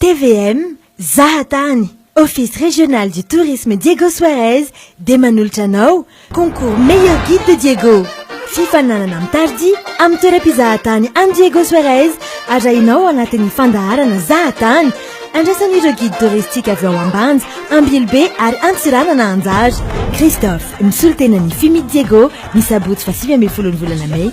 TVM, zaha tany! Office Régional du Tourisme Diego Suarez dia manolotra anao Concours Meilleur Guide de Diego. Fifaninanana amin'ny tardia amin'ny toeram-pizahatany any Diego Suarez arahinao ao anatin'ny fandaharana Zahatany. Andrasan'ireo guide touristique avy ao Ambanja, Ambilobe ary Antsiranana anjara. Christophe, misolo tena ny Fumit Diego, ny sabotsy fahasivy ambin'ny folon'ny volana mey.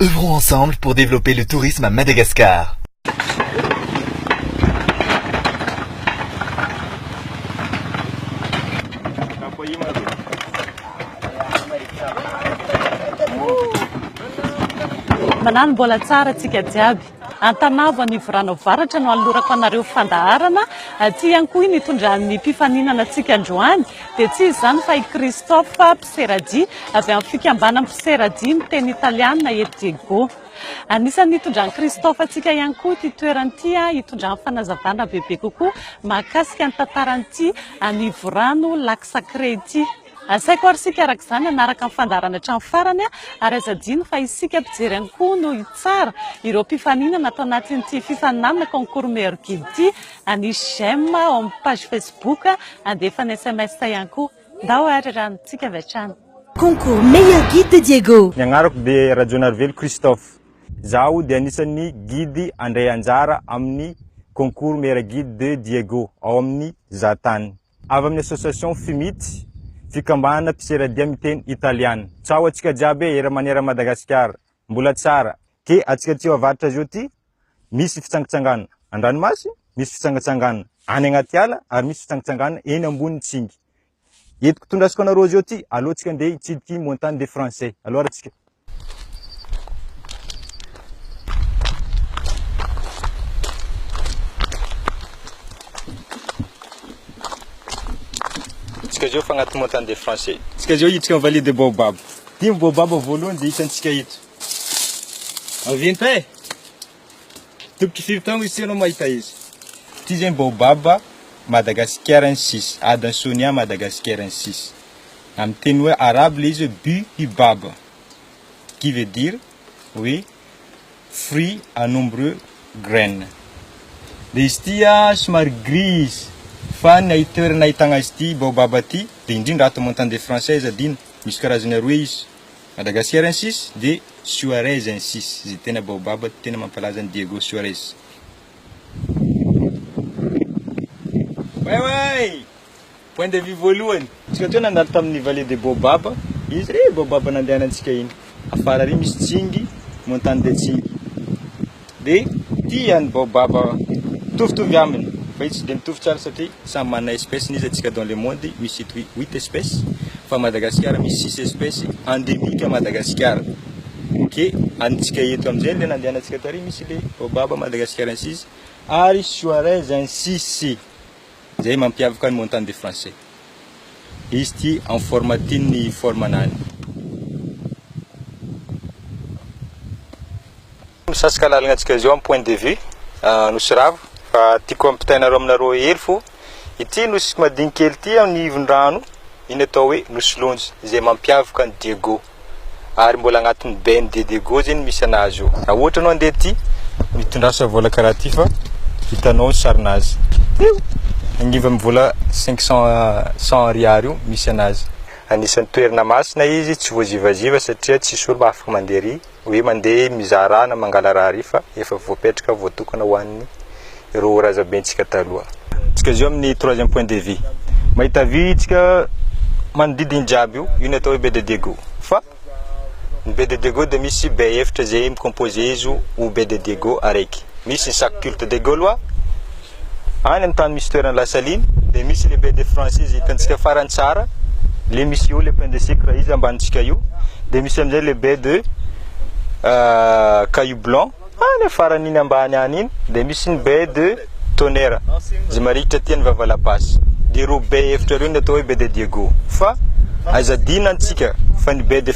Œuvrons ensemble pour développer le tourisme à Madagascar. Manano mbola tsara tsika jiaby. Antanavo Anivorano Avaratra no anolorako anareo fandaharana. Aty ihany koa iny itondran'ny mpifaninana antsika androany dia tsy iza izany fa i Christophe. mpisera-jia avy amin'ny fikambanan'ny mpisera-jia miteny italiana eto Diego. Anisan'ny nitondran'i Christophe antsika ihany koa ity toerana ity hitondrany fanazavana bebe kokoa mahakasika ny tantaran'ity anivorano Lac Sacré ity. Asaiko ary isika araka izany hanaraka ny fandaharana hatramin'ny farany ary aza adino fa isika mpijery ihany koa no hitsara ireo mpifaninana ato anatin'ity fifaninanana concours meilleur guide ity. Anisy j'aime ao amin'ny page Facebook, andefa ny sms ihany koa. Ndao ary raha mitsika avy hatrany. Concours Meilleur Guide de Diego. Ny agnarako dia Rajaonarivelo Christophe. Izaho dia anisan'ny Guide handray anjara amin'ny Concours Meilleur Guide de Diego ao amin'ny Zahatany. Avy amin'ny Association Fimit, Fikambanana Mpisera Dia Miteny Italiana. Tsaho antsika jiaby e, era manera Madagasikara. Mbola tsara. Ke atsika tsy ho avaritra zio ty misy fitsangantsanganana an-dranomasy, misy fitsangantsanganana any anaty ala ary misy fitsangantsanganana eny ambonin'ny tsingy. Eto tondrasiko anareo azy eo ty, alohantsika andeha hitsidika montagne des Français. Aleo arantsika. Tsika zio fa agnaty montagne des Français. Tsika zio hiditsika amin'ny vallée des Baobab. Dimy Baobab voalohany izay hitantsika eto. Maventy eh! Tokotry firy taogno izy tsy anao mahita izy? Ty zegny baobab madagasikairensis, adin'ny sonia madagasikairensis. Amin'ny teny hoe arabo le izy hoe buhibab qui veut dire hoe fruit à nombreux graines. Dia izy ity a somary gris izy fa ny toerana ahitagna azy ity baobab ty dia indrindra ato montant de française adino, misy karazany aroe izy. Madagascarensis de Suarezensis izay tena baobab tena mampalaza an'i Diego Suarez. Waiwai! Point de vue voalohany. Tsika teo nandalo tamin'ny Vallée des Baobabs, iny zay baobab nandehanantsika iny. Afara ary misy Tsingy, Montagne de Tsingy. dia tia ny baobab mitovitovy aminy fa io tsy dia mitovy tsara satria samy manana espèce-ny izy antsika dans le monde misy eto huit espèces fa Madagasikara misy six espèces endémique à Madagasikara ok antsika eto amin'izay ilay nandehanantsika tary misy ilay baobab Madagasikarensis ary suarez ainsi sy Izay mampiavaka ny Montagne des Français. Izy ity en forme tin ny forme anany. Misasika lalagna antsika zao am point de vue Nosy Ravo fa tiako ampitainareo aminareo hely fo ity nosy madinikelikely ity am nivon-drano iny atao hoe Nosy Lonja izay mampiavaka an'i Diego. ary mbola agnatin'ny bain de dego zegny misy anazy io. Raha ohatra anao handeha aty, mitondrasa vola karaha ty fa hitanao ny sarinazy. Io! Agnivo amin'ny vola cinq cents, cent ariary io misy anazy. Anisan'ny toerana masina izy, tsy voazivaziva satria tsisy olona afaka mandeha ary, hoe mandeha mizaha raha na mangala raha ary fa efa voapetraka, voatokana ho an'ny. ireo razabentsika taloha. Tsika zao amin'ny troisième point de vue. Mahita vy tsika manodidy ny jiaby io, io ny atao hoe bede diego. Fa ny bede diego dia misy be efitra izay mi-composer izy ho bede diego araiky. Misy ny sac culte des gaulois, any amin'ny tany misy toerana la saline, dia misy le bede français izay hitantsika farany tsara, le misy eo le pain de sucre izy ambanintsika io, dia misy amin'izay le bede caillou blanc. Any afaran'iny ambany any iny dia misy ny baie de Tonnerre izay marikitra aty an'i Vavalabasy. Dia ireo baie efitra ireo no atao hoe baie de Diego. Fa aiza adino antsika fa ny baie de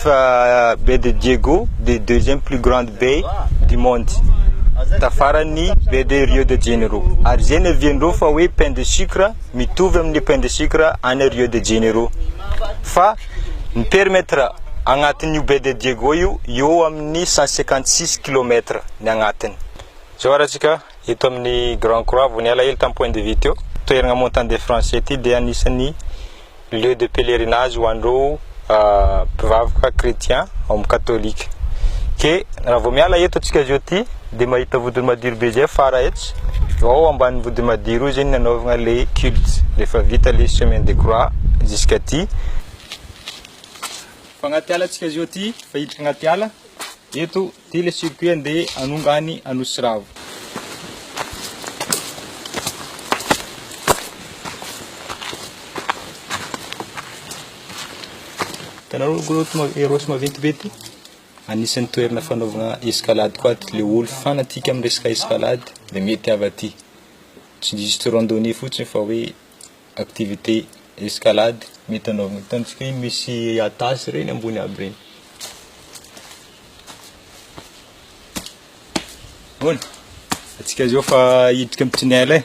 baie de Diego dia deuxième plus grande baie du monde. Tafaran'ny baie de Rio de Janeiro. Ary izay no ihavian'ireo fa hoe pain de sucre mitovy amin'ny pain de sucre any Rio de Janeiro. Fa Ny perimetre agnatin' io baie de Diego io eo amin' ny cent cinquante six kilômetre ny agnatiny. Zao ary atsika eto amin' ny Grand Croix vao niala hely tam point de vue teo. Toeragna Montant des Français ity dia anisan' ny lieu de pèlerinage ho an' ireo mpivavaka chrétien ao amin' ny katôlika. Ke raha vao miala eto atsika zao ty dia mahita vodiny madiro be zay fara etsy ao ambanin'ny vodiny madiro io zay ny anaovagna le culte rehefa vita le chemin de croix jusqu'aty fa agnaty ala tsika zao ty fa hiditra agnaty ala eto ty le circuit andeha anonga any anosiravo tanareo gros eros maventy be ty Anisan'ny toerana fanaovana escalade koa aty le olo fanatique amin'ny resaka escalade dia mety avy aty. Tsy juste randonnée fotsiny fa hoe activité escalade mety anaovana. Hitantsika hoe misy atas ireny ambony aby ireny. Ahoana? Antsika izao efa hiditra amin'ny tunnel e.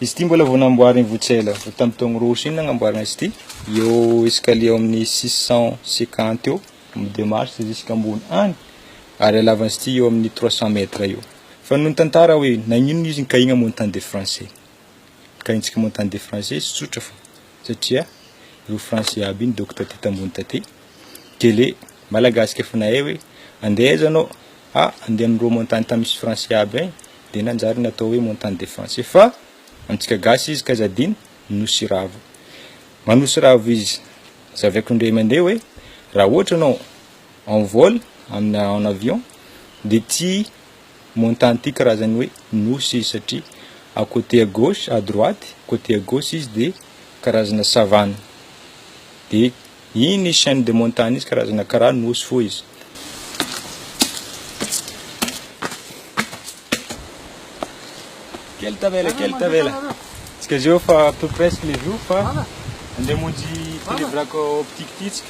Izy ity mbola vao namboarin'i Votsela, vao tamin'ny taogno roa sy inona namboarina izy ity. Eo escalier amin'ny 650 eo, amin'ny deux marches jusqu'à ambony any. Ary halavan'izy ity eo amin'ny 300 mètres eo. Fa noho ny tantara hoe nagnino izy nikahigna montant des français. Nikahintsika montant des français izy tsotra fa satria ireo français aby iny docteur taty tambony taty. Gele, Malagasy ke f'nahay hoe andeha aiza anao? ah andeha amin'ireo montagne tany misy français aby any dia nanjary natao hoe montagne des français fa amintsika gasy izy k'aiza adino? Nosiravo. Manosiravo izy. Zavaiko indray mandeha hoe raha ohatra ianao en vol amina en avion dia ity montagne ity karazany hoe nosy izy satria à côté à gauche à droite côté à gauche izy dia karazana savane dia Iny izy chaine de montagne izy karazana karaha nosy fohy izy. Kely tavela kely tavela. Tsika zeo fa tout presque le jour fa ande monjy televrako optique ty tsika.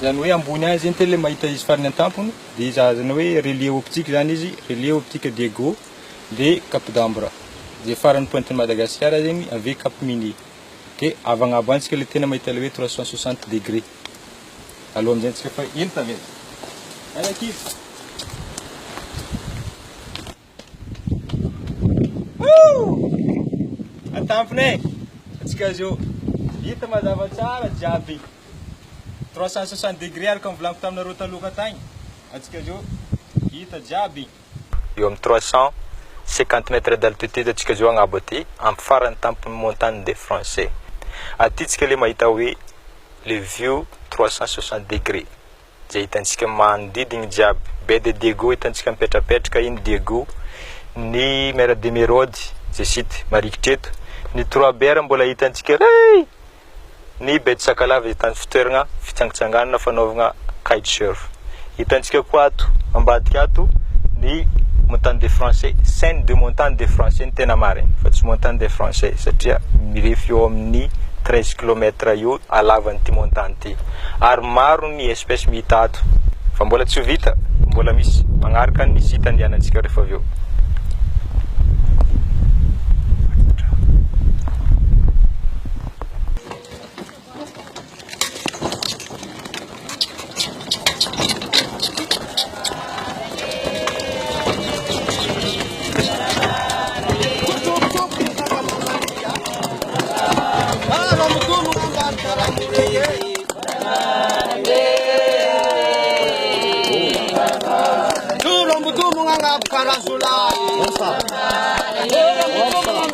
Zany hoe ambony any zegny tele mahita izy farany antampony de izy azana hoe relier optique zany izy relier optique Diego de cap d'ambre ze farany pointe ny Madagasikara zegny ave cap minier. dia avy agnabo any tsika le tena mahita ilay hoe trois cent soixante degré aloha amin'izay antsika fa eny tavela any ankivy atampina e atsika azy eo hita mazava tsara jiaby trois cent soixante degré araka ny volaniko taminareo taloha tagny atsika azy eo hita jiaby eo amin'ny trois cent cinquante mètres d'altitude antsika zao agnabo aty, amin'ny faran'ny tampon'ny montagne des Français. Aty tsika le mahita hoe le view trois cent soixante degre, zay hitantsika manodidigny jiaby, baie de Diego hitantsika mipetrapetraka iny, Diego, ny mer d'Emeraude, zay site marikitry eto, ny trois bers mbola hitantsika hey! ny Betty Sakalava izay tany fitoeragna fitsangatsanganana fanaovagna kite surf. Hitantsika koa ato ambadika ato ny Montagne des Français, chaine de montagne des Français ny tena marigny fa tsy Montagne des Français satria mirefy eo amin'ny treize kilomètre eo halavan'ity montagne ity ary maro ny. ny espèce mihita ato fa mbola tsy ho vita mbola misy magnaraka ny site andehanantsika rehefa avy eo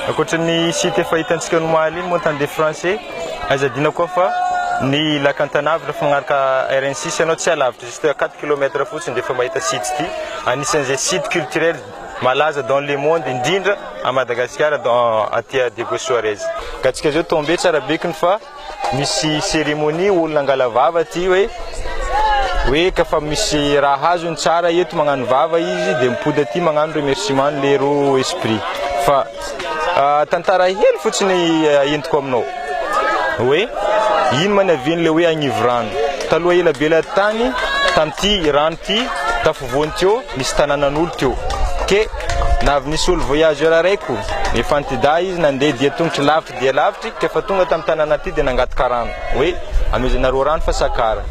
Ankoatran'ny site efa hitantsika ao Omaly iny, Montant des Français, aiza adino koa fa ny Lac Antanavy, raha mifanaraka RN6 ianao tsy alavitra izay. Toy à quatre kilomètre fotsiny dia efa mahita site ity, anisan'izay site culturel malaza dans le monde indrindra à Madagasikara dans aty à Diego Suarez. Gatsika zao tombé tsara bekony fa misy cérémonie olona angala vava aty hoe hoe ka fa misy raha azony tsara eto magnano vava izy dia mipody aty magnano remerciement le roa esprit fa Tantara hely fotsiny entiko aminao hoe ino ma ny havian'ilay hoe agnivo rano. Taloha ela be ilay tany, tamin'ity rano ity, tafovoany teo, nisy tanànan'olo teo. Ke na avy nisy olo voyageur araiko, efa antidahy izy nandeha dia tongotry lavitry dia lavitry, ka efa tonga tamin'ny tanàna ity dia nangataka rano, hoe amezenareo rano fa sakara.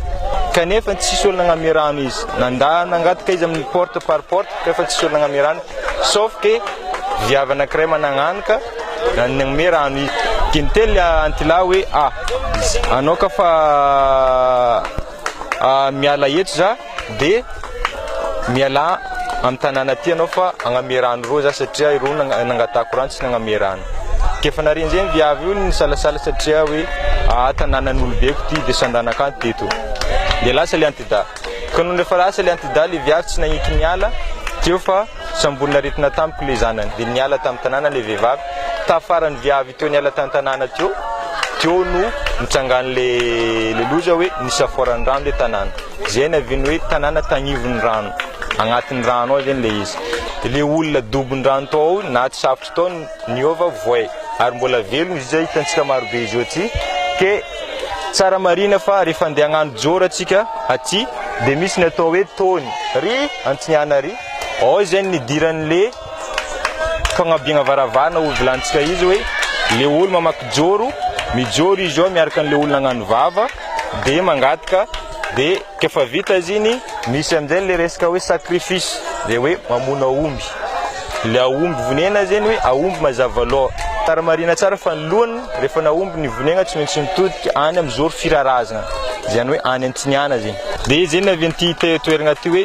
Kanefa tsisy olo nagname rano izy. Nandà nangataka izy amin'ny porte par porte, kanefa tsisy olo nagname rano. Sauf que viavy anankiray managnanoka nanome rano izy. Dia niteny antilahy hoe a! anao ka fa miala eto za dia mialà amin'ny tanàna aty ianao fa agname rano roa za satria ireo nangatahako rano tsy nagname rano. Dia efa nare an'izay ny viavy io nisalasala satria hoe a! tanànan'olobeko ity dia sandanak'anty teto. Dia lasa ilay antidahy. Ka nony rehefa lasa ilay antidaly vy avy tsy nagniky niala teo fa samborina aretina tampoka ilay zanany dia niala tamin'ny tanàna ilay vehivavy taha farany vy avy teo niala tany tanàna teo teo no nitsangan'ilay ilay loza hoe nisaforan'ny rano ilay tanàna izay ny aviany hoe tanàna tagnivon'ny rano agnatin'ny rano ao izany ilay izy dia ilay olona dobon'ny rano tao ao na tsy safotra tao Niova voay ary mbola velona izy io izay hitantsika marobe izy io aty ke tsara marihina fa rehefa andeha hagnano joro atsika aty dia misy ny atao hoe tony ry antignana ry ao izay ny nidiran'le fagnabiagna varavarana ho vilantsika izy hoe le olo mamaky joro mijoro izy ao miaraka an'le olona agnano vava dia mangataka dia Rehefa vita izy iny, misy amin'izay ilay resaka hoe sacrifice, dia hoe mamono aomby. Ilay aomby vonena izy iny hoe aomby mazava loha. Tara marihina tsara fa ny lohany rehefa nahomby ny vonena tsy maintsy nitodika any amin'ny zoro firarazana, izany hoe any Antiniana izy iny. Dia izay navian'ity toerana ity hoe.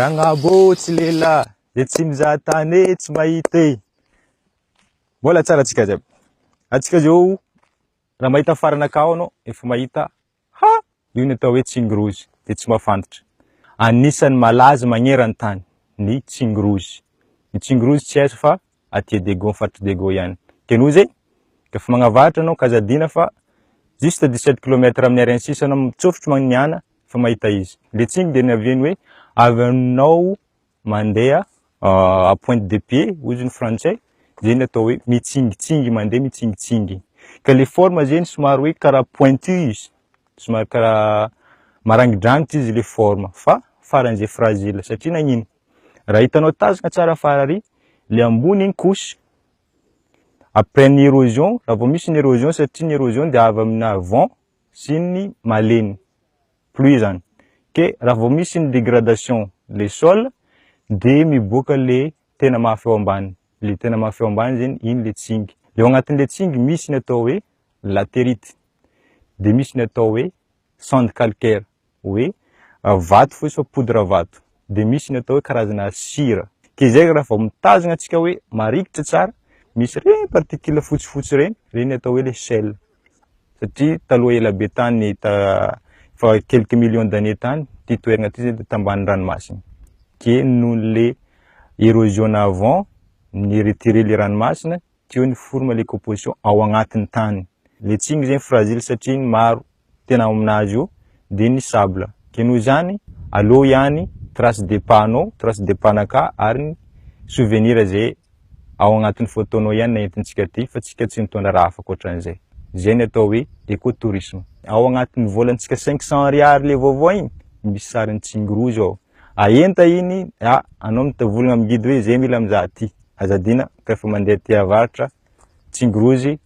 Janabo tsy lehilahy dia tsy mizaha tany e, tsy mahita e. Mbola tsara antsika jiaby. Antsika izao raha mahita faranakao anao efa mahita Ha! Io ny atao hoe tsingy-rozy, dia tsy mba fantatra. Anisan'ny malaza magneran-tany ny tsingy-rozy. Ny tsingy-rozy tsy aiza fa aty Adego, amin'ny faritr'i Dego ihany. Dikan'io izay, rehefa magnavaratra ianao ank'Aza Adina fa juste dix sept kilomètre amin'ny arrêt ny sisa anao mitsofotro magnihana fa mahita izy. Ilay tsingy dia niavian'ny hoe avy aminao mandeha euh, à pointe de pied hoy ny frantsay zay ny atao hoe mitsingitsingy mandeha mitsingitsingy ka le forme zany somary hoe karaha pointu izy somary karaha marangidrangitra izy le forme fa faran'izay fragile satria nagnino raha hitanao tazana tsara farary le ambony iny couche après ny érosion raha vao misy ny érosion satria ny érosion dia avy amina vent sy ny malemy pluie zany ke raha vao misy ny degradation le sol de miboaka le tena maha feo ambany le tena maha feo ambany zany iny le tsingy le ao anatin'le tsingy misy ny atao hoe laterite de misy ny atao hoe sande calcaire hoe ah, vato fotsy fa poudre vato de misy ny atao hoe karazana sira ke izay raha vao mitazona antsika hoe marikitra tsara misy reny particule fotsifotsy reny reny atao hoe le sel satria taloha ela be tany efa quelques millions d'années tany ity toerana ity izay tambany ranomasina dia noho le érosion avant ny retiré le ranomasina teo ny forme le composition ao agnatin'ny tany le tsy igny zegny fragile satria ny maro tena ao aminazy io dia ny sable ke noho izany aleo ihany trace de pas anao trace de pas anakah ary ny souvenir izay ao agnatin'ny fotoanao ihany no entintsika aty fa tsika tsy mitondra raha hafa ankoatran'izay. Zay ny atao hoe eco tourisme. Ao agnatin'ny volantsika cinq cent ariary le vaovao igny misy sarin'i Tsing rouge ao. Ahenta igny, a anao mitavolagna amin'ny guide hoe zay mila mizaha ty, aza adina ka efa mandeha aty avaratra Tsing rouge,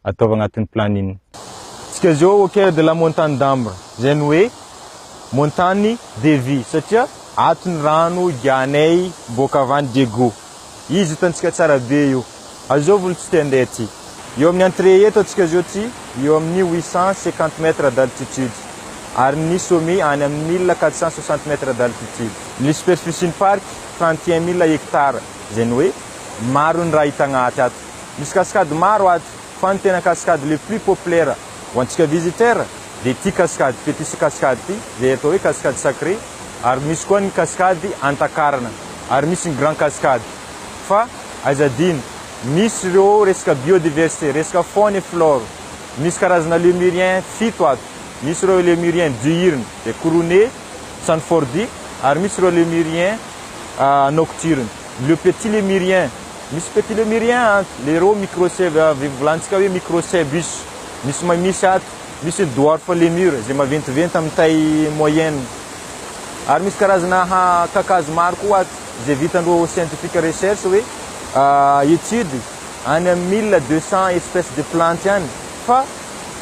ataovy agnatin'ny planine. Tsika zao hauteur de la montagne d'Ambre zay ny hoe montagne de vie satria ato ny rano igiahanay boaka avy any Diego. Izy hitantsika tsara be io. Azovy olo tsy te handeha aty. Eo amin'ny entrée eto atsika zao tsy eo amin'ny huit cent cinquante mètres d'altitude ary ny sommet any amin'ny mille quatre cent soixante mètres d'altitude. Ny superficie-n'ny parc trente et un mille hectares zay ny hoe maro ny raha hita agnaty ato. Misy cascade maro ato fa ny tena cascade le plus populaire ho antsika visiteur dia ity cascade Petit Cascade ity izay atao hoe cascade sacrée ary misy koa ny cascade Antakarana ary misy ny grand cascade fa aiza adino misy ireo resaka biodiversité resaka faune et flore misy karazana lemurien fito ato misy ireo lemurien diurne dia couronné sanfordie ary misy ireo lemurien nocturne le petit lemurien Misy petit lemurien a, le reo micro ce volantsika hoe micro cebus, misy ma misy ato, misy ny dwarf lemur zay maventiventy amin'ny taille moyenne. Ary misy karazana ha kakazo maro koa ato zay vitan-dreo scientific recherche hoe étude any amin'ny mille deux cents espèces de plantes any fa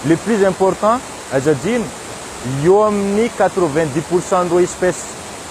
le plus important aza adino eo amin'ny quatre vingt dix pour cent n'ireo espèces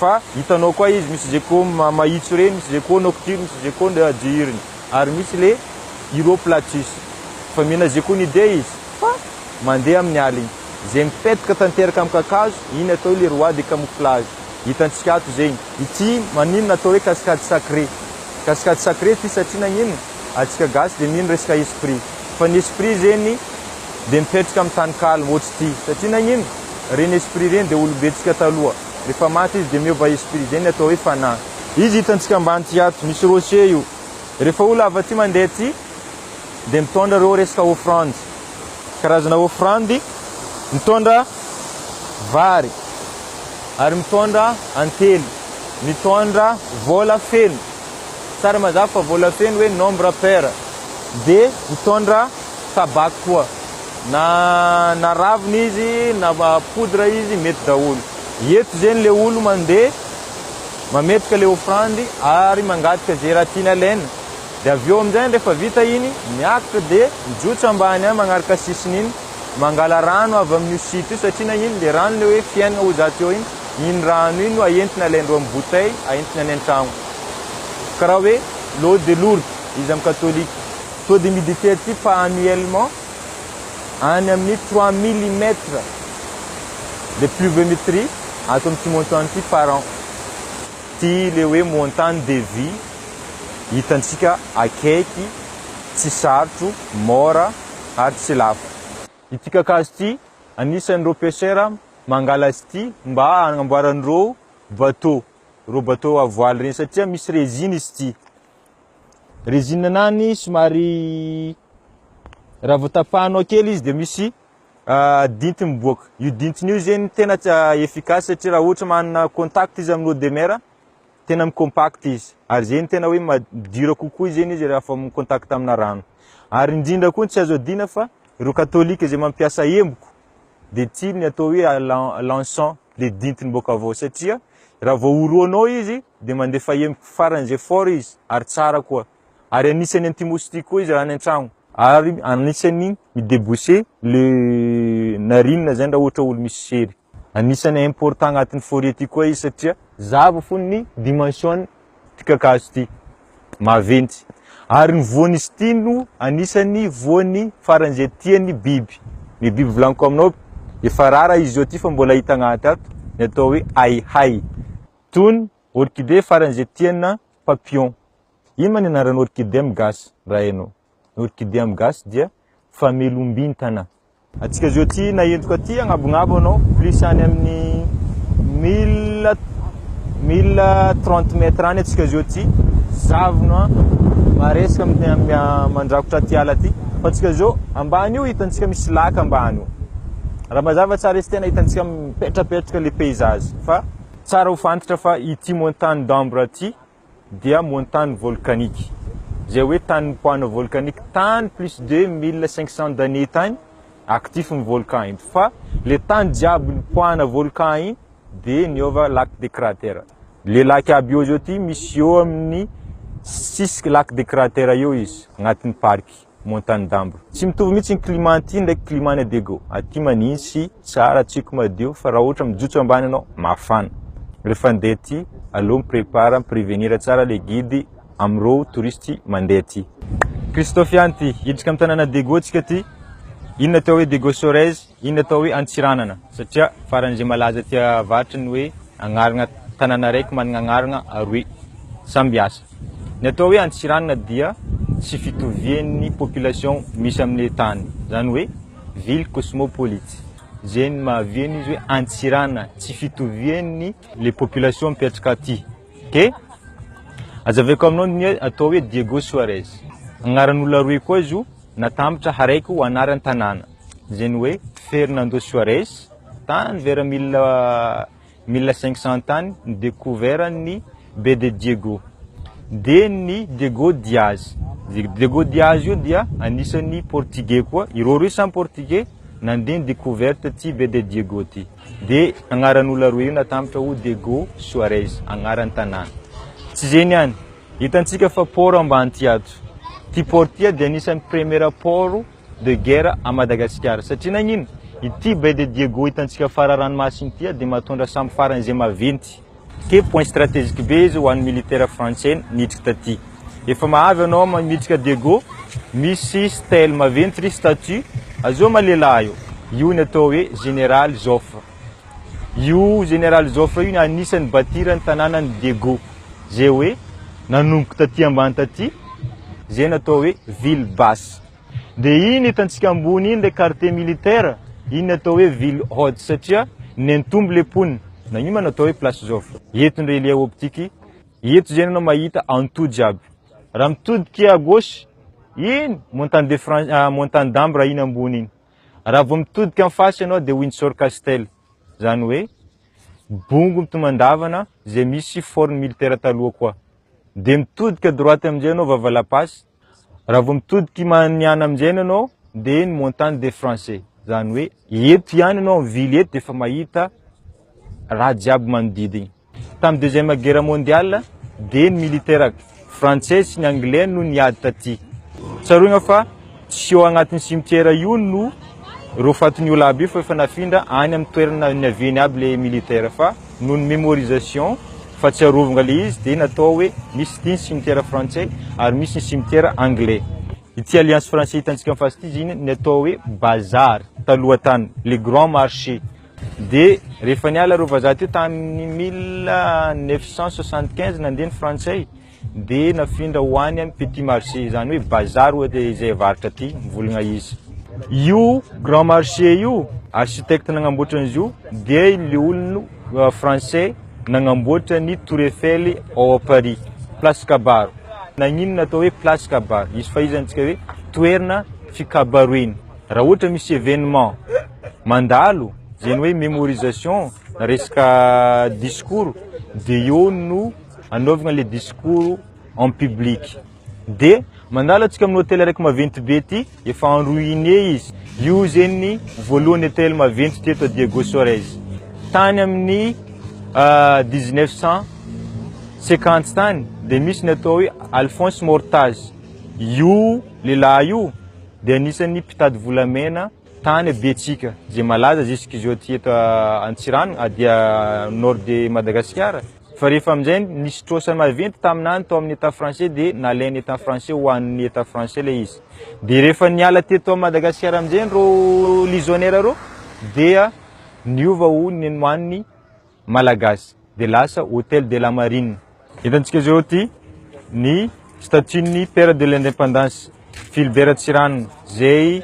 fa hitanao koa izy misy ze ko mahitso reny misy ze ko nocturne misy ze ko diurne ary misy le uroplatus fa mihena ze ko ny dia izy fa mandeha amin'ny aliny ze mipetaka tanteraka amin'ny kakazo iny atao le roi de camouflage hitantsika ato zegny ity maninona atao hoe cascade sacré cascade sacré ity satria nagnino atsika gasy de mino resaka esprit fa ny esprit zegny dia mipetraka amin'ny tany kaly hoatry ity satria nagnino? Ireny esprit ireny dia olom-betsika taloha, rehefa maty izy dia miova esprit izay ny atao hoe fanahy. Izy hitantsika ambany ity ato, misy rocher io, rehefa olona avy aty mandeha aty dia mitondra ireo resaka offrande, karazana offrande, mitondra vary ary mitondra antely, mitondra vola feno, tsara mazava fa vola feno hoe nombre pair, dia mitondra. sabak koa na na ravina izy na poudre izy mety daholo eto zegny le olo mande mametraka le offrande ary mangataka ze raha tiany alaina de avy eo amizay rehefa vita iny miakatra de mijotso ambany any magnaraka sisiny iny mangala rano avy amin'io site io satria nagnino le rano le hoe fiainana ho zato eo iny iny rano iny no aentina alaindreo amin'ny bouteille aentina any an-tragno karaha hoe l'eau de Lourdes izy amin'ny katolika Taux d'humidité aty pas annuellement any amin'ny trois millimètres de pluviométrie ato amin'ity montant ity par an. Ity le hoe montant de vie hitantsika akaiky, tsy sarotro, mora ary tsy lafo. Ity kakazo ity anisan'ireo pêcheurs mangala azy ity mba hanamboaran'ireo bateau, ireo bateau à voile ireny satria misy résine izy ity. Résine nani somary raha vao tapahanao kely izy dia misy ah, dinty miboaka. Io dintiny io zegny tena tsy ah, efficace satria raha ohatra manana contact izy amin'ny eau de mer, tena mi-compact izy. Ary zegny tena hoe ma- dur kokoa zegny izy rehefa mi-contact amina rano. Ary indrindra koa tsy azo adino fa ireo katolika izay mampiasa emboko dia tia ny atao hoe ah, l'en- l'encens, le dintiny boaka avy ao satria raha vao orohanao izy dia mandefa hemiko farany izay fort izy ary tsara koa. Ary anisany anti moustique koa izy raha any antragno. Ary anisany mi deboucher le narine zany raha ohatra olo misy sery. Anisany important agnatiny forie ty koa izy satria zava fony ny dimension ty kakazo ty. Maventy. Ary ny voany izy ty no anisany voany farany izay tiany biby. Ny biby volaniko aminao efa rara izy zao ty fa mbola hita agnaty ato ny atao hoe ahiahy. Tony, orchidée faran'izay tiana, papillon. Inona ny anaran'ny orchidée amin'ny gasy, raha hainao? Ny orchidée amin'ny gasy dia famelombintana. Antsika zao aty naentiko aty agnabognabo anao plus any amin'ny mille mille trente mètres any atsika zao aty zavona maresaka amin'ny amin'ny mandrakotra aty ala aty fa atsika zao ambany io hitantsika misy laka ambany io raha mazava tsara izy tena hitantsika mipetrapetraka le paysage fa Tsara ho fantatra fa ity montagne d'Ambre ity dia montagne volcanique. Izay hoe tany mipahana volcanique tany plus de mille cinq cents d'années tany actif ny volcan iny. Fa le tany jiaby nipahana volcan iny dia niova lac de cratère. Le lac aby eo zao ity misy eo amin'ny sisik lac de cratère eo izy agnatin'ny parc. Montagne d'Ambre. Tsy mitovy mihitsy ny climat aty ndraiky climat any Adego. Aty manintsy, tsara, tsiko madio fa raha ohatra mijotso ambany ianao, mafana. Rehefa handeha aty, aleo mi-prépare, mi-prévenir tsara ilay guide amin'ireo touristes mandeha aty. Christophe ihany ity. Hiditra amin'ny tanàna Adego antsika aty. Inona atao hoe Dego Sorez? Iny atao hoe Antsiranana satria faran'izay malaza aty avaratra ny hoe agnarana tanàna araiky manana agnarana aroe samby asa. Ny atao hoe Antsiranana dia tsy fitovian'ny population misy amin'ilay tany, izany hoe ville cosmopolite. Izay no mahavy an'izy hoe Antsiranana, tsy fitovian'ny le population mipetraka aty. Dia azavaiko aminao ny atao hoe Diego Suarez, agnaran'olona aroe koa izy io. Natambatra haraiko ho anaran'ny tanàna, izay ny hoe Fernando Suarez, tany vera mille mille cinq cents tany no dekouveran'ny Be de Diego. Dia ny Diego Diaz. Io Diego Diaz io dia anisan'ny Portigey koa, ireo roa samy Portigey nandeha ni-decouverte ity Be de Diego ity. Dia agnaran'olona roa io natambatra ho Diego Suarez, agnaran'ny tanàna. Tsy izay ny any. Hitantsika fa port ambany ty ato. Ty port ty dia anisan'ny premiera port de guerre à Madagasikara. Satria nagnino? Ity baie de Diego hitantsika fara ranomasina ity dia mahatondra sambo faran'izay maventy. Ke point strategique be izy ho an'ny militaire frantsay niditra taty. Efa mahavy anao ma miditra Diego, misy stèle maventy ry statue, azoma lehilahy io. Io ny atao hoe Général Joffre. Io Général Joffre io ny anisany bâtir ny tananany Diego. Ze hoe nanomboka taty ambany taty, ze natao hoe ville basse. De iny hitantsika ambony iny le quartier militaire, iny natao hoe ville haute satria nentombo le mponina. Na io ma natao hoe place Joffre. Eto ny relief optique, eto ze nanao mahita an'to jiaby. Raha mitodika à gauche, iny montagne de France, montagne d'Ambre iny ambony iny. Raha vao mitodika en face ianao dia Windsor Castle, izany hoe bongo mitomandavana izay misy forn militaire taloha koa. Dia mitodika droite amin'izay ianao Vava La Passe, raha vao mitodika Maniana amin'izay ianao dia ny Montagne des Français, izany hoe eto ihany ianao amin'ny ville eto dia efa mahita raha jiaby manodidina. Tamin'ny deuxième guerre mondiale dia ny militaire frantsay sy ny anglais no niady taty. Tsaroina fa tsy eo agnatin'ny cimetière io no ireo fatin'ny olo aby io fa efa nafindra any amin'ny toerana niaviany aby le militaire fa noho ny mémorisation fa tsy arovanga le izy dia natao hoe misy ity ny cimetière frantsay ary misy ny cimetière anglais. Ity alliance français hitantsika en face ity zany ny atao hoe bazar taloha tany, le grand marché. Dia rehefa niala ireo vazaha teo tamin'ny mille neuf cent soixante quinze nandeha ny frantsay dia nafindra ho any amin'ny petit marché izany hoe bazary ohatra izay avarotra aty mivolagna izy. Io grand marché io architecte nagnamboatra an'izy io dia ilay olona euh, français nagnamboatra ny tour Eiffel ao à Paris place kabaro nagnino natao hoe place kabaro izy fa izy antsika hoe toerana fikabaroina Raha ohatra misy événement mandalo, zay ny hoe mémorisation na resaka discours de eo no anaovana le discours en public. De mandalo atsika amin'ny hôtel araiky maventy be ty, efa en ruine izy. Io zegny ny voalohany hôtel maventy ty eto à Diego Suarez. Tany amin'ny dix neuf cent cinquante tany de misy ny atao hoe Alphonse Mortaz. Io lehilahy io, dia anisan'ny mpitady volamena tany Betsika izay malaza zisk'izao aty eto Antsiranana ah, dia nord de Madagasikara fa rehefa amin'izay nisy trosa maventy taminany tao amin'ny état français dia nalain'ny état français ho an'ny état français ilay izy dia rehefa niala teto Madagasikara amin'izay ireo lisonnière ireo dia niova ho nenwan'ny Malagasy dia lasa Hôtel de la Marine. Hitantsika izao ity ny statue-n'ny Père de l'Indépendance, Philibert Ratsirano, izay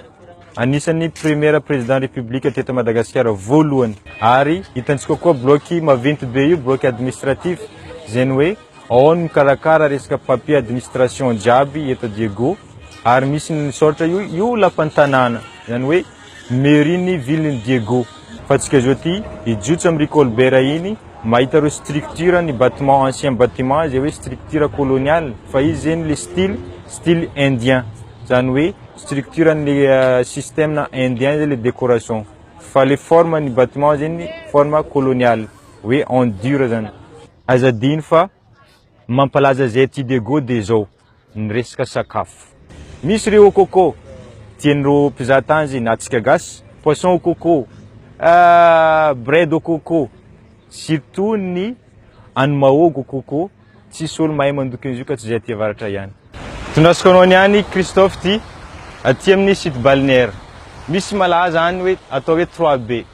anisan'ny Premier Président République teto Madagasikara voalohany. Ary hitantsika koa bloc maventy be io, bloc administratif, izay ny hoe ao no mikarakara resaka papier administration jiaby eto Diego. Ary misy ny misaotra io, io lapan'ny tanàna, izany hoe. Mairie ny ville ny Diego. Fa tsika zao ty hijotso am ry Colbert iny mahita reo structure ny batiment ancien batiment izay hoe structure colonial fa izy zeny le style style indien zany hoe structure ny le systeme indien zay le decoration fa le forme ny batiment zeny forme colonial hoe en dur zany. Aza adino fa mampalaza zay ty Diego de zao. ny resaka sakafo. Misy ry au coco, tian'ireo mpizaha tany izay na antsika gasy, poisson au coco, bread au coco, surtout ny any Mahogo au coco, tsisy olo mahay mandoky an'izio ka tsy izay aty avaratra ihany. Tondrasako anao niany Christophe ty, aty amin'ny site balnéaire, misy malaza any hoe atao hoe trois baies,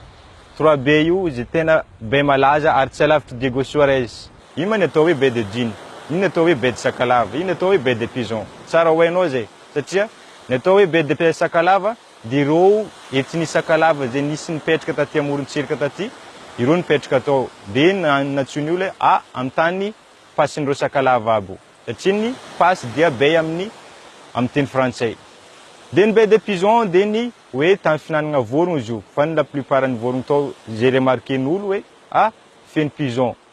trois baies io izay tena baie malaza ary tsy alavitry Diego Suarez, Inona ny atao hoe baie de Dune? Inona ny atao hoe baie de Sakalava? Inona ny atao hoe baie de Pison? Tsara ho hainao izay, satria ny atao hoe baie de Sakalava dia ireo ethnie Sakalava izay nisy nipetraka taty amorontsiraka taty, ireo nipetraka tao, dia nantsoin'ny olona hoe a amin'ny tany pasin'ireo Sakalava aby, satria ny pas dia baie amin'ny amin'ny teny frantsay. Dia ny baie de Pison dia ny hoe tany fihinanana vorogno izy io, fa ny la plupart ny vorogno tao izay remarquer-n'olo hoe a feno pison,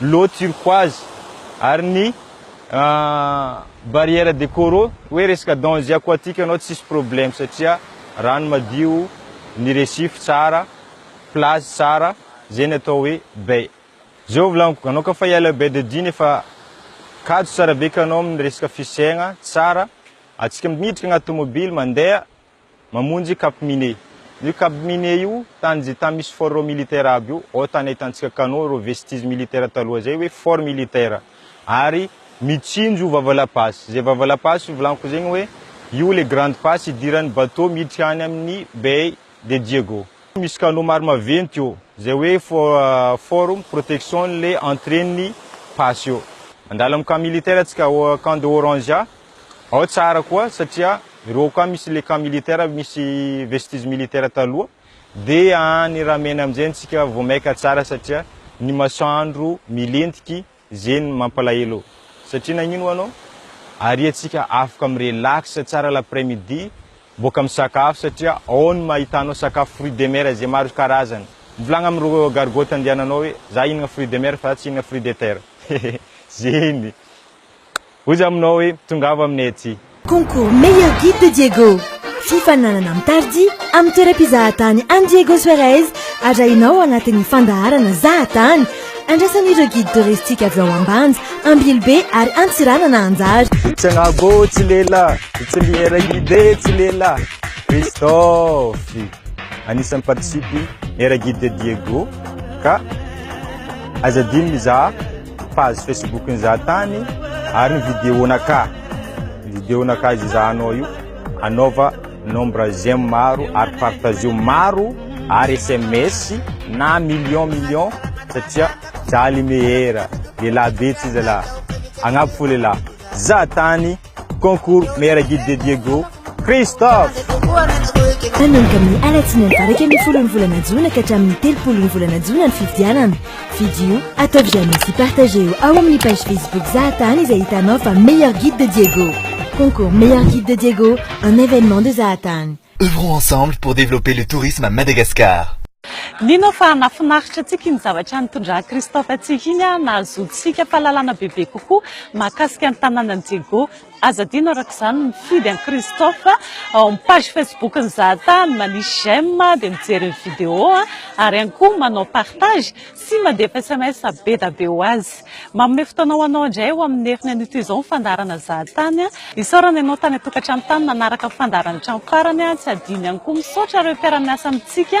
l'eau turquoise ary ny barrière de coraux hoe resaka danger aquatique anao tsisy problème satria rano madio ny récif tsara plage tsara zay ny atao hoe bay zao volagno anao ka fa hiala bay de dine fa kajy tsara be ka anao amin'ny resaka fisegna tsara atsika miditra agnaty tomobily mandeha mamonjy cap mine. Io cap mine io tany ze tany misy fort militaire aby io ao tany ahitantsika canaux reo vestiges militaire taloha zay hoe fort militaire ary mitsinjo io vava la passe zay vava la passe io volaniko zegny hoe io le grande passe idiran'ny bateau miditra any amin'ny bay de diego misy canaux maro maventy io zay hoe fort protection le entrée ny passe io mandalo amin'ny camp militaire atsika camp de orange Ao tsara koa satria ireo ao koa misy le camp militaire misy vestiges militaires taloha dia any ramena amin'izay antsika vao maika tsara satria ny masoandro milentiky izay no mampalahelo satria nagnino ho anao ary antsika afaka mi-relax tsara l'après midi boaka misakafo satria ao no mahitanao sakafo fruits de mer izay maro karazana mivolagna amin'ireo gargotte andehananao hoe za hihinagna fruits de mer fa za tsy hihinagna fruits de terre hehe zay ny Ozy aminao hoe tongava aminay aty. Concours Meilleur Guide de Diego. Fifaninanana mitarjy amin'ny toeram-pizahatany an'i Diego Suarez arahinao anatin'ny fandaharana Zahatany. Andrasan'ireo Guide Touristique avy ao Ambanja, Ambilobe ary Antsiranana anjara. Itsangago tsy lela, itsiliera guide tsy lela. Christophe, anisan'ny participe Meilleur Guide de Diego ka aza adino mizaha. Page Facebook ny za tany ary ny vidéo naka vidéo naka izy za anao io anaova nombre j'aime maro ary partageo maro ary sms na million million satria za le meilleur lelah be tsy zala agnabo fo lelah za tany Concours meilleur guide de Diego Christophe. Manomboka amin'ny alatsinainy valo iraika ambin'ny folon'ny volana jona ka hatramin'ny telopolon'ny volana jona ny fifidianana. Fidio, ataovy j'aime sy partageo ao amin'ny page Facebook Zahatany izay hitanao fa meilleur guide de Diego. Concours meilleur guide de Diego, un événement de Zahatany. Œuvrons ensemble pour développer le tourisme à Madagascar. Mino aho fa nahafinaritra antsika iny zavatra nitondran'i Christophe antsika iny, nahazoantsika fahalalana bebe kokoa mahakasika ny tanànan'i Diego. Aza adino araka izany ny mifidy an'i Christophe ao amin'ny page Facebook-n'i Zahatany, manisy j'aime dia mijery ny vidéo ary ihany koa manao partage sy mandefa sms be da be ho azy. Manome fotoana ho anao indray ao amin'ny heriny an'ito izao ny fandaharana Zahatany. Isaorana ianao tany an-tokantrano tany nanaraka ny fandaharan'ny hatramin'ny farany, tsy adino ihany koa misaotra ireo mpiara-miasa amintsika.